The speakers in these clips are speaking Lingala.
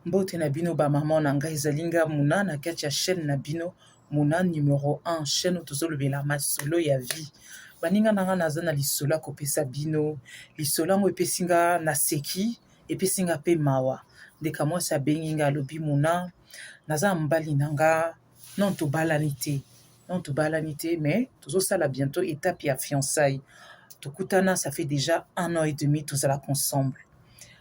Mbote na bino ba maman na nga ezali nga Muna na kati ya chaîne na bino Muna numero 1 chaîne oyo tozolobela masolo ya vie baninga na nga naza na lisolo ya kopesa bino lisolo yango epesi nga na seki epesi nga pe mawa ndeka mwasi abengi nga alobi Muna naza na mobali na nga non tobalani te non tobalani te mais tozosala bientôt étape ya fiançailles tokutana ça fait déjà un an et demi tozalaka ensemble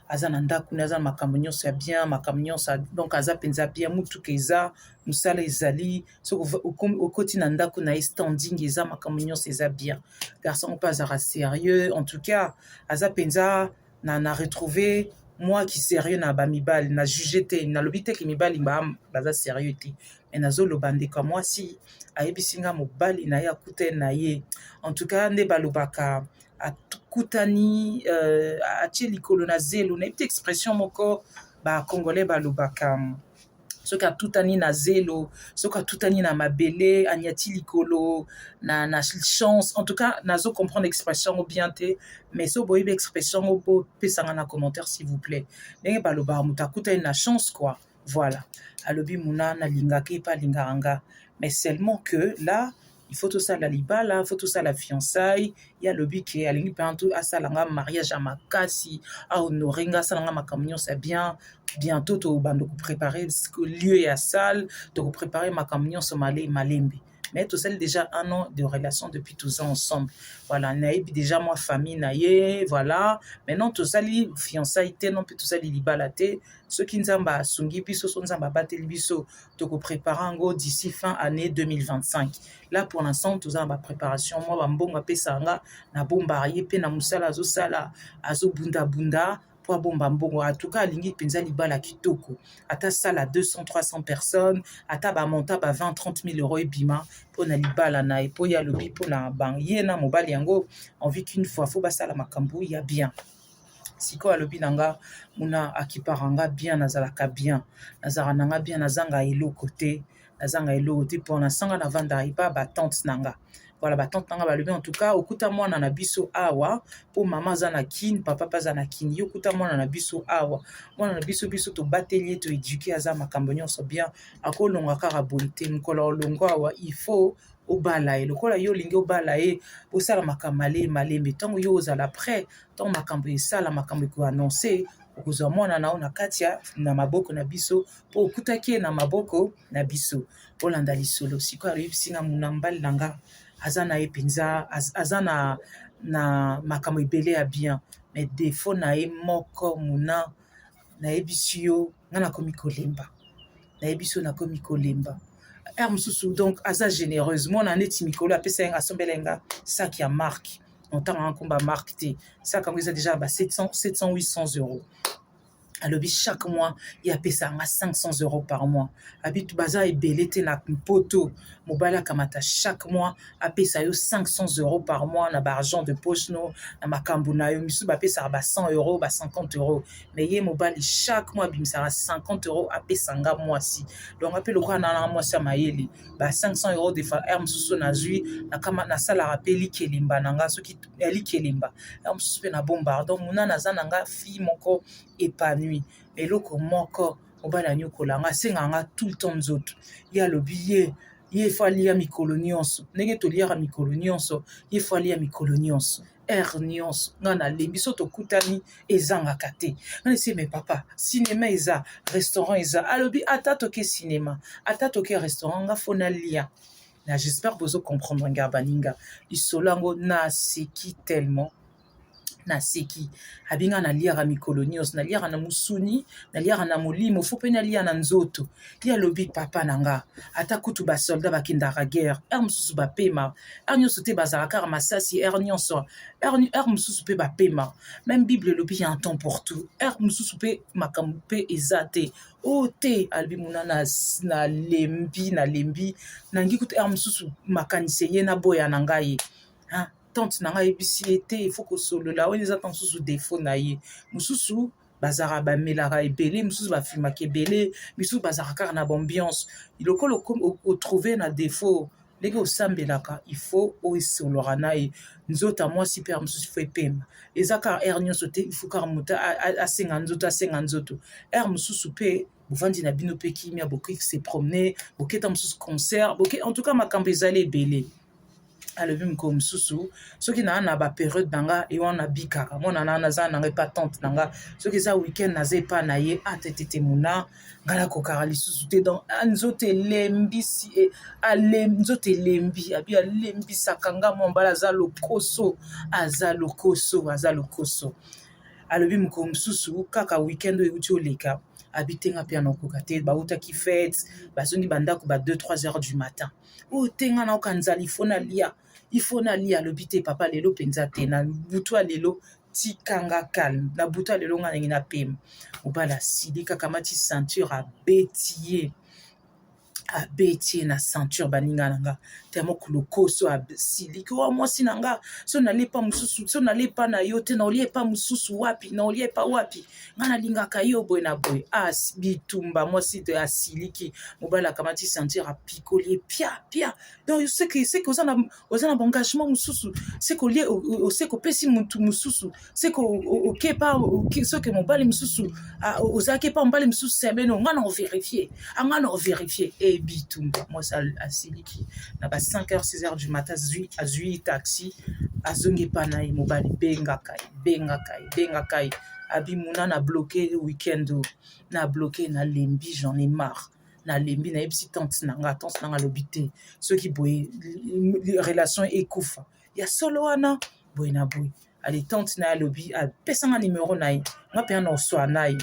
aza na ndako ne aza na makambo nyonso ya bien makambo nyonso donc aza mpenza bien motuka eza mosala ezali soki okoti na ndako na ye standing eza makambo nyonso eza bien garçon mpe azalaka sérieux en tout cas aza mpenza na na retrouver moi qui serieux na ba mibali na juge te na lobi te ki mibali ba baza serieux te mais na zo loba ndeko moi si ayebisi nga mobali na ye akuta na ye en tout cas nde balobaka akutani euh, atie likolo na zelo na expression moko ba congolais balobaka soki atutani na zelo soki atutani na mabele anyati likolo na, na chance en tout cas nazo comprendre expression yango bien te mais so boyebi expression yango bopesanga na commentaire s'il vous plaît ndenge balobaka moto akutani na chance quoi voilà alobi muna nalingaka ye mpe alingaka nga mais seulement que là il faut tosala libala faut tosala fiançaille ye alobi ke alingi mpenza to asala nga mariage ya makasi ahonore nga asala nga makambo nyonso ya bien bientôt tobanda koprépare lieu ya salle tokoprépare makambo nyonso male malembe mais tosali déjà un an de relation depuis tous ans ensemble voilà nayebi déjà mwa famille na ye voilà maintenant tosali fiançaille te non mpe tosali libala te soki nzambe asungi biso so nzambe abateli biso toko prepare yango d'ici fin année 2025 là pour l'instant toza na ba préparation mwa bambongo apesaka nga na bombaka ye mpe na mosala azosala azobundabunda mpo abomba mbongo atuka alingi mpenza libala kitoko ata sala 200 300 personnes ata bamonta ba 20 30 000 euro ebima mpo na libala na ye mpo ye alobi mpo na ye na mobali yango envie qu'une fois fo basala makambo ya bien sikoyo alobi na nga muna akipaka nga bien nazalaka bien nazalaka na nga bien nazanga eloko te nazanga eloko te mpo nasanga navandaka epa batante na nga voilà batante na nga balobi en tout cas okuta mwana na biso awa mpo mama aza na kine papa mpe aza na kine ye okuta mwana na biso awa mwana na biso biso tobateli ye toeduke aza makambo nyonso bien akolonga kaka boye te mokolo olongo awa il faut obala ye lokola yo olingi obala ye bosala makambo male malembe ntango yo ozala prêt ntango makambo esala makambo ekoannonce okozwa mwana na yo na kati ya na maboko na biso mpo okutaki ye na maboko na biso olanda lisolo sikoyo ayebisi na muna mbali na nga aza na ye mpenza aza na na makambo ebele ya bien mais defo na ye moko muna nayebisi yo nga nakomi kolemba nayebisi yo nakomi kolemba heure mosusu donc aza généreuse mwana neti mikolo apesa yanga asombela yanga saki ya marque ntango yango nkomba marque te saki yango eza deja ba 700 700 800 euros alobi chaque mois ye apesa yanga 500 euros par mois abi baza ebele te na mpoto mobali akamata chaque mois apesa yo 500 euro par mois na baargent de poche no na makambo na yo misusu bapesaka ba 100 euro ba 50 euro mais ye mobali chaque mois abimisaka 50 euro apesa nga mwasi donc ape lokola nalanga mwasi ya mayele ba 500 euro de faire mosusu nazwi nasalaka mpe likelemba na nga soki ya likelemba ya mosusu mpe na bombardo muna naza na nga fille moko épanouie eloko moko mobali anyokola nga asenga nga tout le temps nzoto ye alobi ye ye fo alia mikolo nyonso ndenge toliaka mikolo nyonso ye fo alia mikolo nyonso heure nyonso nga nalembi so tokutani ezangaka te nga nesi me papa cinema eza restaurant eza alobi ata toke cinema ata toke restaurant nga fo nalia na j'espère bozo comprendre nga baninga lisolo yango naseki tellement naseki abinga naliaka mikolo nyonso naliaka na mosuni naliaka na molimo fo mpe nalia na nzoto ye alobi papa na nga ata kutu basoldat bakendaka guerre heure mosusu bapema heure nyonso te bazalaka kaka masasi heure nyonso heure mosusu mpe bapema meme bible elobi ya temps pour tout heure mosusu mpe makambo mpe eza te o oh, te alobi mona nalembi nalembi nangi kutu heure mosusu makanisi eye naboya na ngai tante na ngai ayebisi ye te il faut kosolola wana eza ntango mosusu defaut na ye mosusu bazalaka bamelaka ebele mosusu bafilmaka ebele misusu bazalaka kaka na baambiance lokola otrouve na defaut ndenge osambelaka il faut osololaka na ye nzoto ya mwasi mpe ya mosusu fo epema eza kaka aire nyonso te ifu kaka moto asenga nzoto asenga nzoto aire mosusu mpe bovandi na bino mpe kimia bokoki se promener boketa mosusu concert boke en tout cas makambo ezali ebele alobi mikolo mosusu soki naa na baperiode na nga ye wana nabikaka mwana na naza na nga epa tante na nga soki eza weekend naza epa na ye atetete ah, mona nga nakokaka lisusu te donc ah, nzoto elembisi e, nzoto elembi abi alembisaka nga mwa mbala aza lokoso aza lokoso aza lokoso alobi mokolo mosusu kaka weekend oyo euti oleka abi te nga mpe anakoka te bautaki fete bazongi bandako ba 2 3 heures du matin oyo te nga nayoka nzala ifo nalia ifo nalia alobi te papa lelo mpenza te na butu ya lelo tikanga calme na butu ya lelo nga nangi na pema mobali asili kaka mati ceinture abeti ye abeti ye na ceinture baninga na nga te moko lokoso asiliki wa mwasi na nga so nali epa mosusu so nali epa na yo te na olie epa mosusu wapi na olie epa wapi nga nalingaka yo boye na boye as ah, bitumba mwasi to asiliki mobali akamati sentir apikoli ye pia pia donc seke seke oza na oza na baengagement mosusu seke olie seke opesi motu mosusu seke okepa soki mobali mosusu ah, ozalaki epa mobali mosusu semeno nga na overifie anga ah, na overifie e eh, bitumba mwasi asiliki na ba 5 heures 6 heures du matin azwi taxi azongi epa na ye mobali bengaka ye bengaka ye bengaka ye abimuna na bloke weekend oyo na bloke na lembi j'en ai marre nalembi nayebisi tante na nga tante na nga alobi te soki boye relation ekufa ya solo wana boye na boye ale tante na ye alobi apesanga nimero na ye nga mpe ana oswa na ye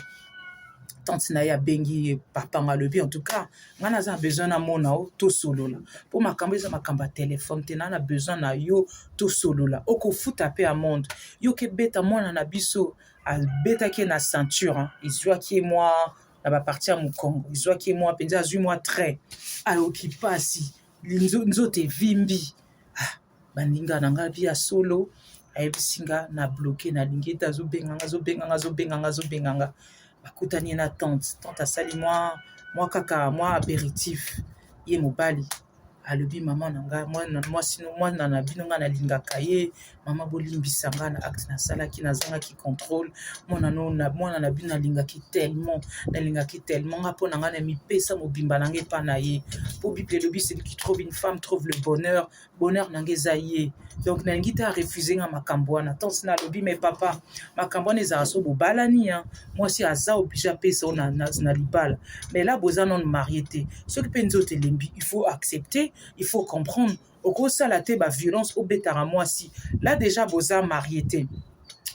tante na ye abengi ye papa nga alobi en tout cas nga naza na besoin namona yo tosolola mpo makambo eza makambo ya telefone te naa na besoin na yo tosolola okofuta mpe amande yo kebeta mwana na biso abetaki ye na ceinture ezwaki ye mwa na baparti ya mokongo ezwaki ye mwa mpenza azwi mwa trait ayoki mpasi nzoto evimbi ah, baninga na ngai bi ya solo ayebisi nga na bloke nalingi ete azobenganga azobenganga azobenganga azobenganga bakutani ye na tante tante asali mwa mwa kaka mwa aperitif ye mobali alobi mama na ngai mwasi mwana na bino ngai nalingaka ye mama bolimbisa ngai na acte nasalaki nazangaki contrôle mwana mwana na bino nalingaki tellement nalingaki tellement ngai mpo na ngai na mipesa mobimba na ngai epai na ye mpo bible elobi celui qui trouve une femme trouve le bonheur bonheur na nga eza ye donc nalingi te arefuse nga makambo wana tonsi nalobi me papa makambo wana ezala so bobalani ya mwasi aza oblige apesa o na, na, na libala mais la boza non marie te soki mpe nzoto elembi il faut accepter il faut comprendre okosala te baviolence obetaka mwasi la deja boza marie te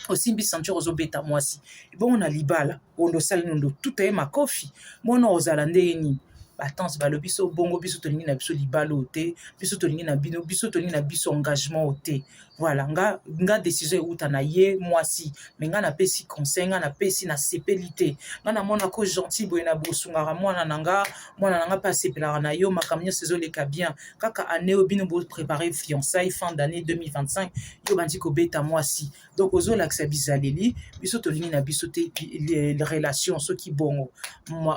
osimbi ceinture ozobeta mwasi ebongo na libala ondo osali nondo tuta ye makofi mwana ozala ndenge nini batanse balobi so bongo biso tolingi na biso libala oyo te biso tolingi na bino biso tolingi na biso engagement oyo te voilà nga, nga décision euta na ye mwasi me nga napesi conseil nga napesi nasepeli te nga namona ko gentil boye na bosungaka mwana na nga mwana na nga mpe asepelaka na yo makambo nyonso ezoleka bien kaka année oyo bino boprépare fiançaille fin d'année 2025 yo bandi kobeta mwasi donc ozolakisa bizaleli biso tolingi na biso te relation soki bongo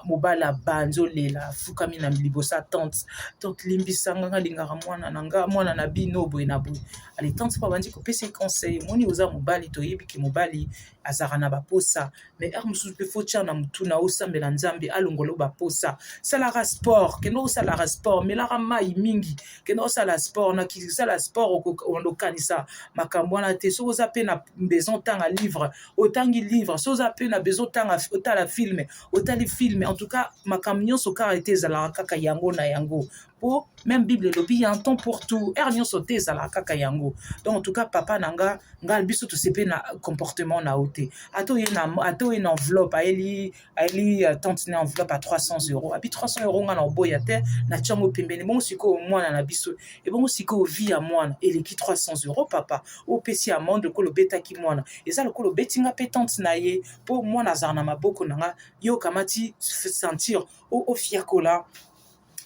mobala banzi olela afukami na libosa tante tante limbisanga nga lingaka mwana na nga mwana na bino boye na boye ale tante mpo abandi kopesa conseil moni oza mobali toyebi ke mobali azalaka na baposa me heure mosusu mpe fo tya na motuna osambela nzambe alongolo baposa salaka sport kende osalaka sport melaka mai mingi kende osala sport na kisala sport okanisa makambo wana te soki oza mpe na besoin otanga livre otangi livre soki oza mpe na besoin otanga otala filme otali filme en tout cas makambo nyonso kaka ete ezalaka kaka yango na yango po même bible elobi ya temps pour tout heure nyonso te ezalaka kaka yango donc en tout cas papa na nga nga biso tosepe na comportement na yo te ata oye na ata oye na enveloppe ayeli ayeli euh, tante na enveloppe à 300 euros abi 300 euros nga na oboya te na tiango pembeni bongo sikoyo mwana na biso ebongo sikoyo vie ya mwana eleki 300 euros papa opesi amande lokola obetaki mwana eza lokola obeti nga mpe tante na ye mpo mwana azala na maboko na nga yo okamati sentir ofiakola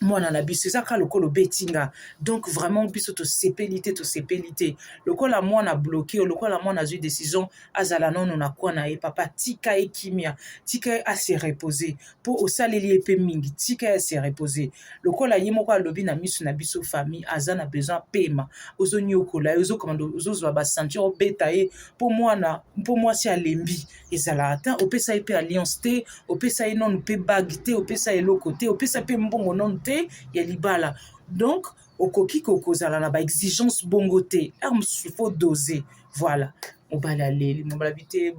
mwana na biso eza kaka lokola obeti nga donc vraiment biso tosepeli te tosepeli te lokola mwana bloke lokola mwana azwi décision azala nono na kwana ye papa tika ye kimia tika ye ase reposer mpo osaleli ye mpe mingi tika ye ase reposer lokola ye moko alobi na miso na biso famille aza na besoin pema ozoniokola ye ozokomanda ozozwa bacenture obeta ye mpo mwana mpo mwasi alembi ezalaka ta opesa ye mpe alliance te opesa ye nanu mpe bague te opesa ye eloko te opesa mpe mbongo nanu te ya libala donc okoki kokozala na baexigence bongo te r mosusu fo dose voilà mobali aleli mobali abi te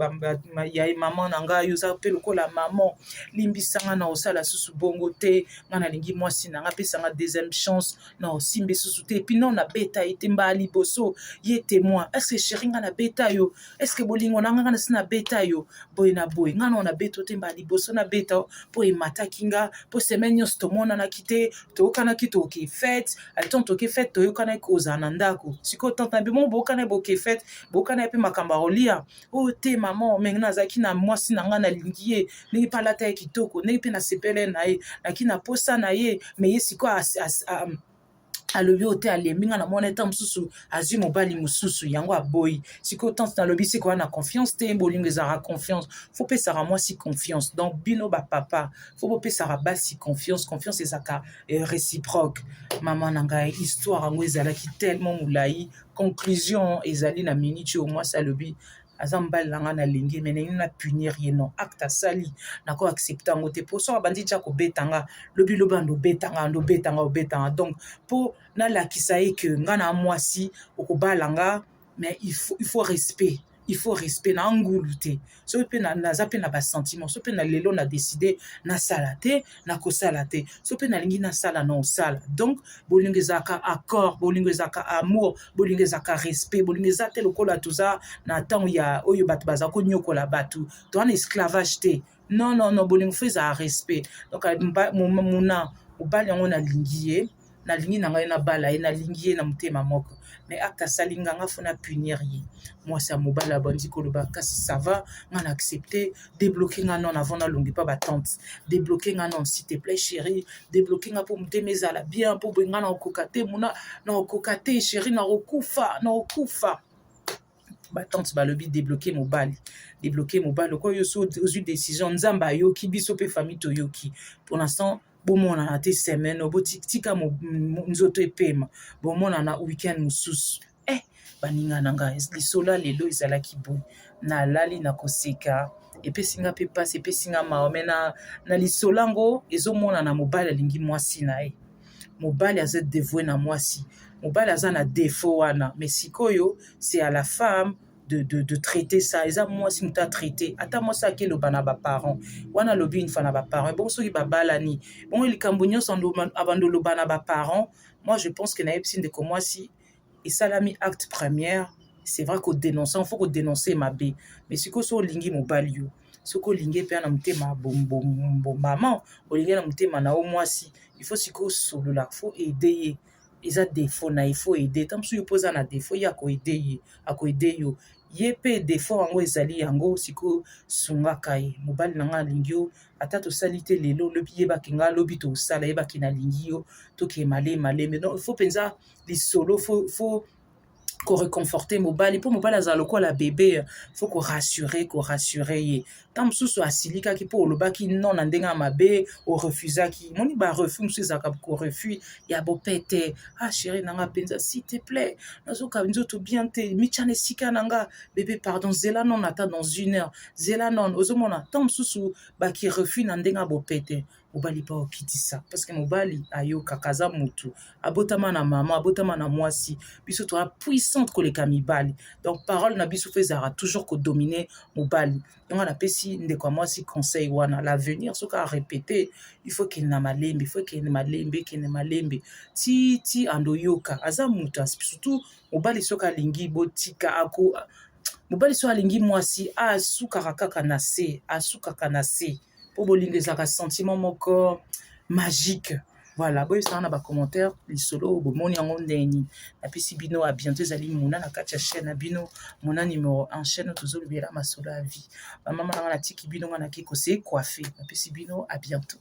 ya ye mama na ngai oza mpe lokola mama limbisa ngai na osala susu bongo te ngai nalingi mwasi na ngai apesa ngai deuxième chance na osimbe susu te epuis non nabeta ye te mbala liboso ye temoin estce sheri ngai nabeta yo eske bolingo na nga nga nasi nabeta yo boye na boye nga nao nabeto te mbala liboso nabeta yo mpo emataki nga mpo semaine nyonso tomonanaki te toyokanaki toke fete aton toke fete toyokanaki kozala na ndako sikoyo tante na bimo boyokana boke fete boyokana mpe makambo ya kolia o oh, te mama menge nazalaki na mwasi na nga nalingi ye ndenge mpe alata ye kitoko ndenge mpe nasepele na ye naki na posa na ye me ye sikoyo alobi oyo te alembi nga na mwana ntango mosusu azwi mobali mosusu yango aboyi sikoyo tante nalobi sikoyo wana confiance te bolingo ezalaka confiance fo pesaka mwasi confiance donc bino bapapa fo bopesaka basi confiance confiance ezalaka eh, réciproque mama na ngai histoire yango ezalaki tellement molai conclusion ezali na miniti oyo mwasi alobi aza mobali na ngai nalingi ye me naino na punir ye non acte asali nako accepte yango te mpo soki abandi tya kobeta nga lobi lobi ando obeta nga ando obeta nga obeta nga donc mpo nalakisa ye ke nga na mwasi okobala nga mais il faut, il faut respect il faut respect na angulu te soki mpe naza mpe na basentiment soki mpe na lelo na decide nasala te nakosala te so mpe nalingi nasala na osala donc bolingo ezalaka accord bolingo ezalaka amour bolingo ezalaka respect bolingo eza te lokola toza na ntango ya oyo bato baza konyokola bato toza na esclavage te non non non bolingo fo ezala respect donc muna mobali yango nalingi ye nalingi na ngai nabala ye nalingi ye na motema moko me acte asali nga nga fona punir ye mwasi ya mobali abandi koloba kasi sava nga na accepte debloke nga non avant nalongi pa batante debloke nga non s'il te plaît chéri debloke nga mpo motema ezala bien mpo boye nga nakokoka te mona nakokoka te chéri nakokufa nakokufa batante balobi debloke mobali debloke mobali okoyo so ozwi décision nzambe ayoki biso mpe famille toyoki pour l'instant bomonana te semaine oyo botika nzoto epema bomonana weekend mosusu eh baninga na ngai lisolo ya lelo ezalaki boye nalali na koseka epesi nga mpe mpasi epesi nga mawa me na, na lisolo yango ezomonana mobali alingi mwasi na ye mobali aza devoue na mwasi mobali aza na defo wana me sikoyo se ya la femme de, de, de traiter ça eza mwasi moto atraite ata mwasi akeloba na baparent wana alobi une fois na baparent ebongo soki babalani bongo likambo nyonso abanda oloba na baparent moi je pense que nayebisi ndeko mwasi esalami acte première c'est vrai kodenonce yango fo kodenonce mabe mais sikoyo so olingi mobali yo soki olingi mpe na motema bombama olingi na motema na yo mwasi il faut sikoyo osolola fo ede ye eza defaut na ye faut aide ta mosusu yo mpo oza na defaut ye akoede ye akoede yo ye mpe defaut yango ezali yango sikoyo sungaka ye mobali na ngai alingi yo ata tosali te lelo lobi yebaki ngai lobi tosala yebaki nalingi yo tokee male maleme donc faut mpenza lisolo faut ko reconforter mobali mpo mobali azala lokola bebe fo ko rassurer ko rassurer ye ntango mosusu asilikaki mpo olobaki non na ndenge ya mabe orefusaki moni ba refus mosusu ezalaka ko refus ya bopete ah chéri na nga mpenza s'il te plaît nazoka nzoto bien te mitya na esika na nga bebe pardon zela non ata dans une heure zela non ozomona ntango mosusu baki refus na ndenge ya bopete mobali mpo okitisa parceke mobali ayokaka aza motu abotama na mama abotama na mwasi biso toa puissante koleka mibali donc parole na biso mpe ezalaka toujours kodomine mobali yango napesi ndeko ya mwasi conseil wana l'avenir soki arepete il faut ekende na malembe il faut ekende malembe ekende malembe ti ti ando oyoka aza motu surtout mobali soki alingi botika ako mobali soki alingi mwasi asukaka kaka na se asukaka na se mpo bolingo ezalaka sentiment moko magique voilà boyebisanga na bacommentaire lisolo oyo bomoni yango ndenge nini napesi bino a bientôt ezali mona na kati ya chaîne na bino mona numero en chaîne tozolobela masolo ya vie bamama nanga natiki bino nga nake kose coiffe napesi bino a bientôt